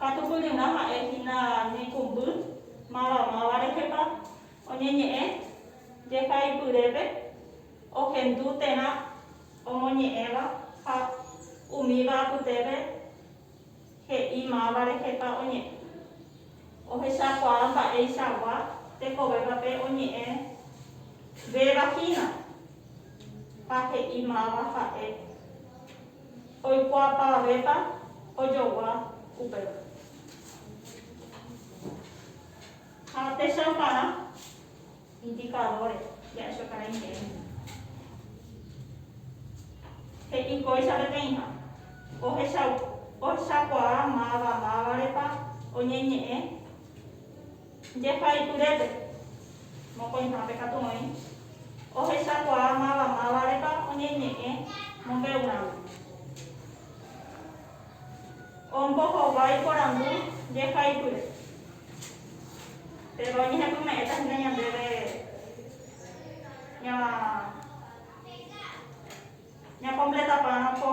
Katu kuñurã ha'e hína ñeikũmby mavamáva rehepa oñeñe'ẽ jehaipyrépe ohendu térã omoñe'ẽva ha umíva apytépe he'i máva rehepa oñe'ẽ. Ohechakuaa mba'eichagua tekovépa pe oñe'ẽ véva hína ha he'i máva ha'e. Oikuaapavavépa ojogua upéva. Ha techauparã indikadóre ja'écho karai ñe'ẽme. He'i kóicha peteĩha, ohechakuaa máva mávarepa oñeñe'ẽ. Jehaityrépe, mokõihápe katu oĩ ohechakuaa máva mávarepa oñeñe'ẽ mombe'urãme. Ombohovái porandu jehaipyre, péro oñehepyme'ẽta hína ñandéve ñakompletapárõ ko.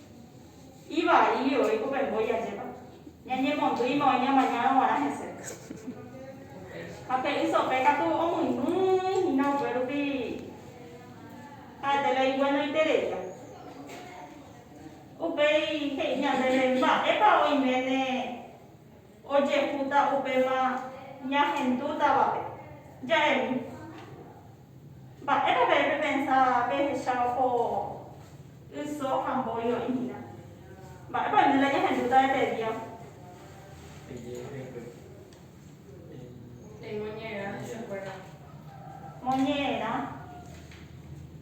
Ivai oĩ ko pemboy ajépa. Ñañemondýima oĩ ñamañárõ guarã hese. Ha pe ysope katu omyny hína upe rupi ha'ete la ivuenoitereia. Upéi he'i ñandéve, Mba'épa oiméne. ojehúta upéva ñahendútavape, ja'émi. Mba'épa pe pepensa pehecha oho yso ha mbói oĩhína? Mba'épa oime la ñahendúta hete día? Moñe'ẽrã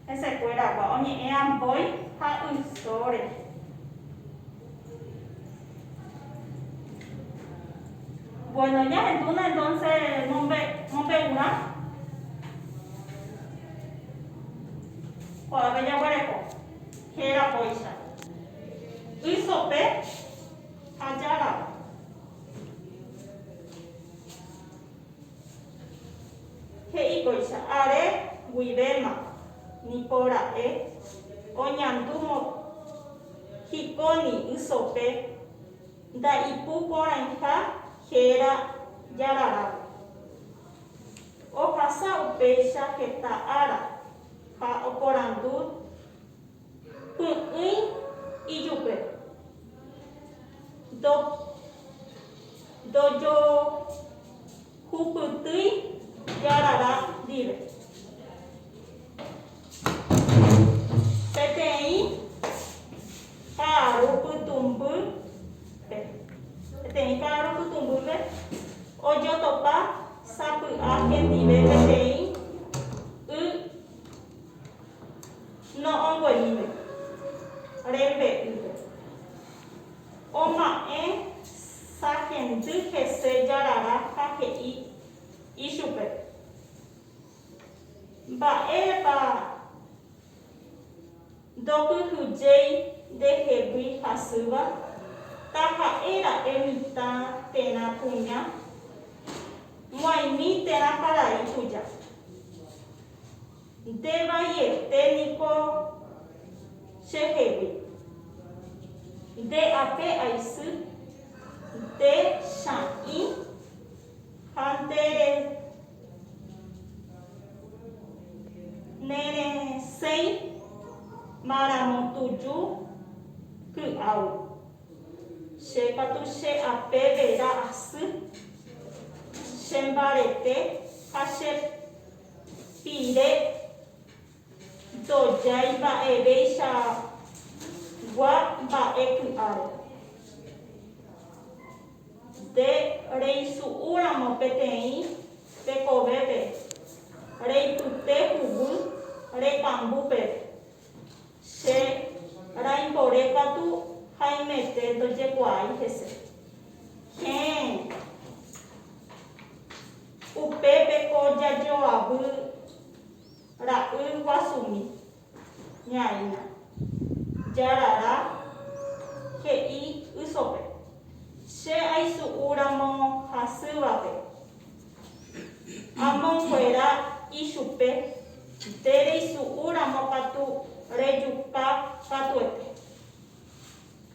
hesekuéragua oñe'ẽva mbói ha yso rehe. Bueno, ya entuna entonces mombe mombe ura. Ko ave ya guareko. Hera poicha. Isope hajara. Hei poicha are guivema ni pora'e oñandu mo Hikóni ysope nda'ipu porãiha héra jararápe. Ohasa upéicha heta ára ha oporandu py'ỹi ijupe. Ndo, ndojo. Hupytýi jarara ndive. Peteĩ ka'aru pytũmbýpe. Peteĩ ka'aru pytũmbýpe ojotopa sapy'a hendive peteĩ y no'õngueíve rembe'ýpe. Oma'ẽ sahendy hese jarara ha he'i ichupe, Mba'érepa ndokyhyjéi ndehegui hasýva? Taha'e ra'e mitã térã kuña, moaimi térã karai tuja. Nde vaiete niko che hegui. Nde ape aisy, nde cha'ĩ ha nde neresẽi maramo tuju ky'au. Che katu che ape vera asy, che mbarete ha che. Pire ndojái mba'evéichagua mba'e ky'áre. Nde reisu'úramo peteĩ tekovépe, reipyte huguy rekambu peve. Che raimbore katu haimete ndojekuaái hese. Héẽ. Upépe ko jajoavy ra'y guasumi, ñaína, jarara, he'i ysope, Che aisu'u ramo hasývape, amonguera ichupe nde reisu'u ramo katu rejuka katuete.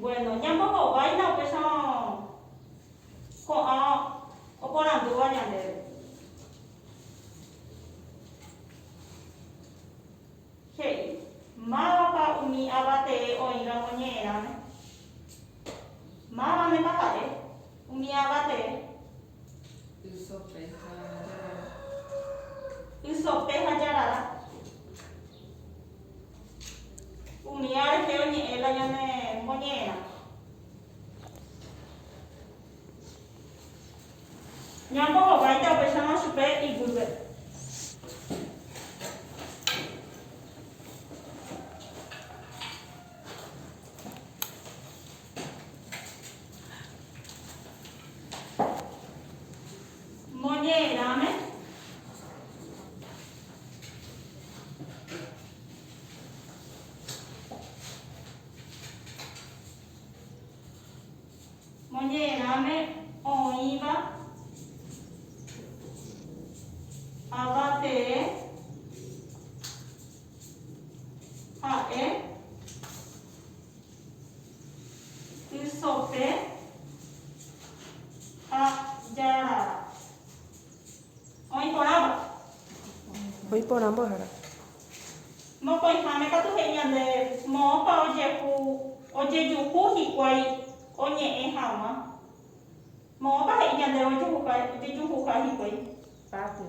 Bueno, ñambohováina upéicha ko'ã oporandúva ñandéve. He'i, Mávapa umi ava tee oĩramo ñe'ẽrãme? Mávamepa ha'e umi ava tee? Ysope ha jarara. Umi ára rehe oñe'ẽ la ñane moñe'ẽrã. Ñambo hováita upéicharõ chupe iguýpe. Moñe'ẽrãme, moñe'ẽrãme oĩva ava tee ha'e Ysope ha jarara. Oĩ porãmbo. Oĩ porãmbo hara. Mokõiháme katu he'i ñande moõpa ojehu ojejuhu hikuái oñe'ẽ haguã. Moõpa he'i ñandéve ojejuha ojejuhuha hikuái. Patio.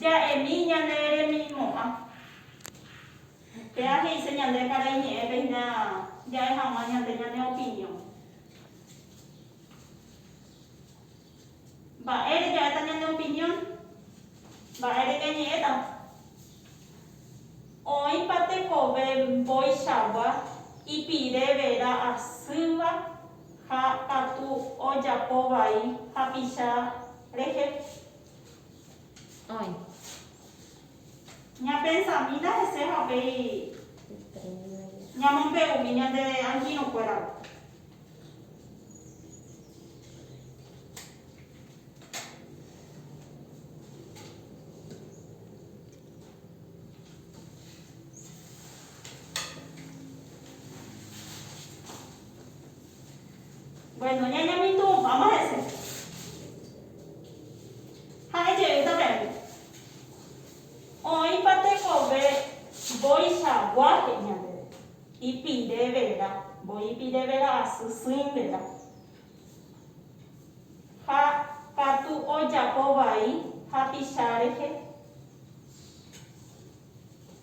Ja'emi ñane remimo'ã. Péa he'ise ñande karai ñe'ẽpe hína ja'e hag̃ua ñande ñane opinión. Mba'ére ja'éta ñane opinión? Mba'ére ñañe'ẽta? Oĩpa tekove mbo'ichagua ipirevera asýva ha katu ojapo vai hapicha rehe? Oĩ. Ñapensamína hese ha upéi ñamombe'umi ñande angirũkuérape. Bueno, ñañemitũ, vamos a decir. Ha'e jeýta peẽme, oĩpa tekove mbo'ichagua he'i ñandéve, ipire vera, mboi ipire vera asy sỹ vera. Ha katu ojapo vai hapicha rehe.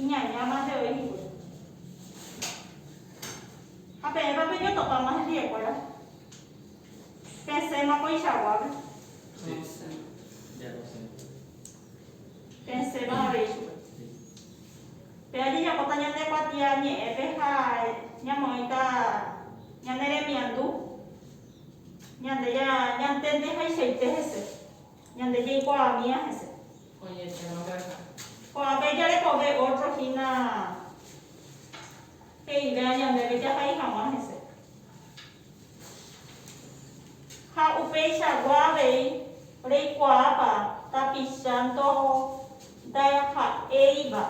Iñaña mante oĩ hikuái. Ha peẽpa peñotopáma hendiekuéra? Pesẽma koichaguápe. Pesẽma avei chupe. Péva jajapóta ñande kuatia ñe'ẽpe ha ñamoĩta ñane remiandu, ñande ñantendehaichaite hese. Ñande jaikuaamíva hese. Oñe'ẽva mbyaka. Ko'ãpe jarekove ótro hína he'ivérã ñandéve jahai hag̃ua hese. Ha upeichagua avei reikuaápa tapicha ndaha'éiva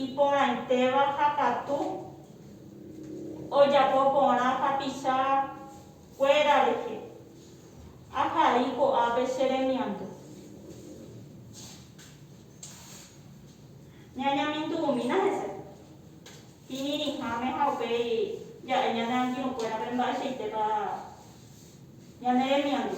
iporãitéva ha katu ojapo porã tapicha. Kuéra rehe. Ahai ko'ápe che remiandu. Ñañamindu umína hese. Kirirĩháme ha upéi ja'e ñane angirũ kuérape mba'eichaitépa ñane remiandu.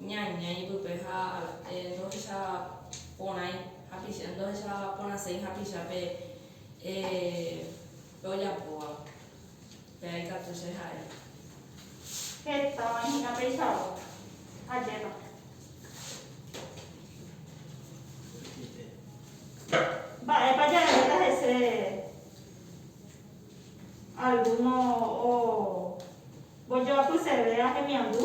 Ñaña ipype ha ndohecha porãi hapicha, ndohecha porãséi hapicha pe ojapóva pe aikatu che ha'e. Hetava hi'ã peichagua ajépa. Mba'épa jareréta hese algúno ombojoapyseve ahemiandu?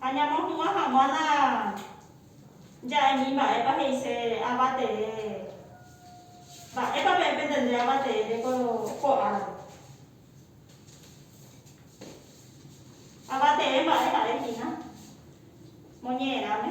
Ha ñamohu'ã hag̃ua la ja'emi mba'épa he'ise ava tee, mba'épa pe'entendé ava teére ko ko árape. Ava tee mba'e ha'e hína moñe'ẽrãme.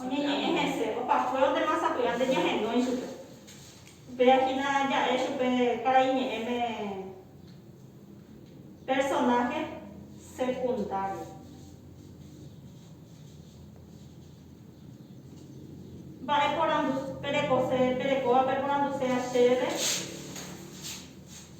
Oñeñe'ẽ hese, opa fuéro de masapy'a nde ñahenói chupe. Upéva hína ja'e chupe karai ñe'ẽme personaje secundario. Mba'e porandu perekose, perekóva peporandusea chéve.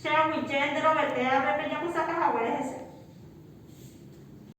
Che aguije nde rovetéape pe japysaka haguére hese.